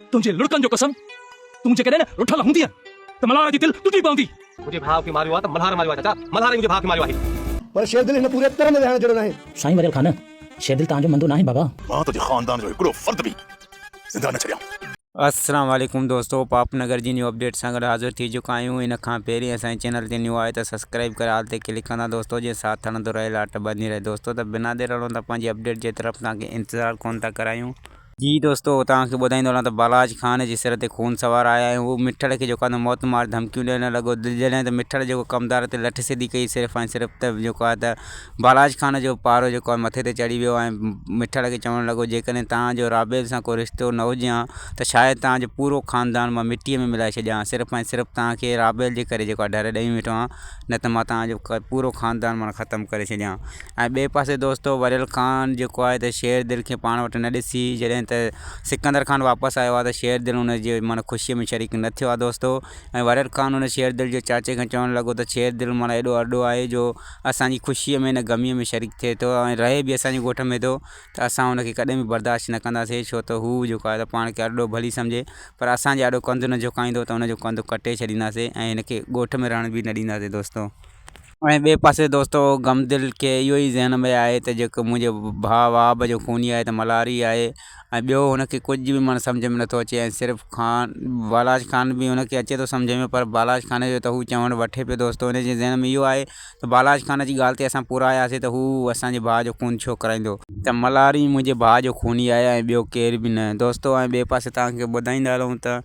تنهنجي لڙڪن جو قسم، تون جيڪڏهن رٺل هوندينء ته ملهار جي دل ٽٽي پوندي. منهنجي ڀاء کي ماريو آهي ته ملهار ماريو آهي چاچا، ملهار ئي منهنجي ڀاء کي ماريو آهي. پر شيردل هن پوري ترن ويهڻ جهڙو ناهي. سائين وريل خان، شيردل توهان جو مندو ناهي بابا. مان تنهنجي خاندان جو هڪڙو فرد به زنده نه ڇڏيان. السلام عليڪم دوستو پاپ نگر جي نيو اپڊيٽ سان گڏ حاضر ٿي چڪا آهيون ان کان پهرين اسان جي چينل تي نيو آهيو ته سبسڪرائيب ڪري آل تي ڪلڪ ڪندا دوستو جيئن ساٿ هلندو رهي لاٽ ٻڌندي رهي دوستو ته بنا دير هلون ٿا پنهنجي اپڊيٽ جي طرف توهان کي انتظار ڪونه ٿا ڪرايون. جي دوستو توهان کي ٻڌائيندو هلان ته بالاچ خان جي سر تي خون سوار آيا ۽ هو مٺڙ کي جيڪو آهي موت مار ڌمڪيون ڏيڻ لڳو جڏهن ته مٺڙ جيڪو ڪمدار تي لٺ سڌي ڪئي صرف ۽ صرف ته جيڪو آهي ته بالاچ خان جو پارو جيڪو آهي مٿي تي چڙهي ويو ۽ مٺڙ کي چوڻ لڳو جيڪڏهن توهان جو رابيل سان ڪو رشتو نه هجي هان ته شايد توهان جو پورو خاندان مان مٽيء ۾ ملائي ڇڏيان هان صرف ۽ صرف توهان کي رابيل جي ڪري جيڪو آهي ڍر ڏئي ويٺو هان نه ته مان توهان جو پورو خاندان ماڻا ختم ڪري ڇڏيان هان. ۽ ٻئي پاسي دوستو وريل خان جيڪو آهي ته شير دل کي پاڻ وٽ نه ڏسي جڏهن ته سڪندر خان واپس آيو آهي ته شير دل ان جي معنيٰ خوشيء ۾ شريڪ نه ٿيو آهي دوستو ۽ وريل خان ان شير دل جي چاچي کان چوڻ لڳو ته شير دل معنيٰ ايڏو ارڏو آهي جو اسان جي خوشيء ۾ نه غميء ۾ شريڪ ٿئي ٿو ۽ رهي به اسان جي ڳوٺ ۾ ٿو ته اسان ان کي ڪڏهن به برداشت نه ڪنداسين ڇو ته هو جيڪو آهي ته پاڻ کي ارڏو ڀلي سمجهي پر اسان جي آڏو ڪنڌ نه جهڪائيندو ته ان جو ڪنڌ ڪٽي ڇڏينداسين ۽ هن کي ڳوٺ ۾ رهڻ به نه ڏينداسين دوستو. ۽ ٻئي پاسي دوستو غم دل کي اهو ئي ذهن ۾ آهي ته جيڪو منهنجو ڀاء وهاب جو خوني آهي ته ملهاري آهي ۽ ٻيو هن کي ڪجهه به معنيٰ سمجهه ۾ نٿو اچي ۽ صرف خان بالاچ خان به هن کي اچي ٿو سمجهه ۾ پر بالاچ خان جو ته هو چوڻ وٺي پيو دوستو هن جي ذهن ۾ اهو آهي ته بالاچ خان جي ڳالهه تي اسان پورا آياسين ته هو اسان جي ڀاء جو خون ڇو ڪرائيندو؟ ته ملهاري ئي منهنجي ڀاء جو خوني آهي ۽ ٻيو ڪير به نه. دوستو ۽ ٻئي پاسي توهان کي ٻڌائيندا هلون ته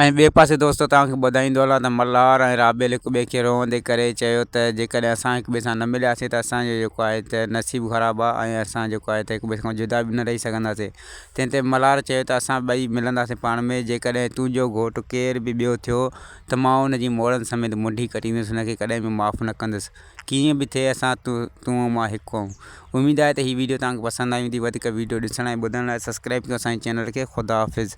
۽ ٻئي پاسي دوستو توهان کي ٻڌائيندو هلان ته ملهار ۽ رابيل هڪ ٻئي کي روئندي ڪري چيو ته جيڪڏهن اسان هڪ ٻئي سان نه ملياسين ته اسان جو جيڪو آهي ته نصيب خراب آهي ۽ اسان جيڪو آهي ته هڪ ٻئي کان جدا به نه رهي سگهنداسين تنهن تي ملهار چيو ته اسان ٻئي ملنداسين پاڻ ۾ جيڪڏهن تنهنجو گهوٽ ڪير به ٻيو ٿيو ته مان ان جي موڙن سميت منڍي ڪٽيندس ان کي ڪڏهن به معاف نه ڪندس ڪيئن به ٿئي اسان تون ۽ مان هڪ آهيون اميد آهي ته هي ويڊيو توهان کي پسند آئي هوندي وڌيڪ ويڊيو ڏسڻ ۽ ٻڌڻ لاء سبسڪرائيب ڪيو اسان جي چينل کي خداحافظ.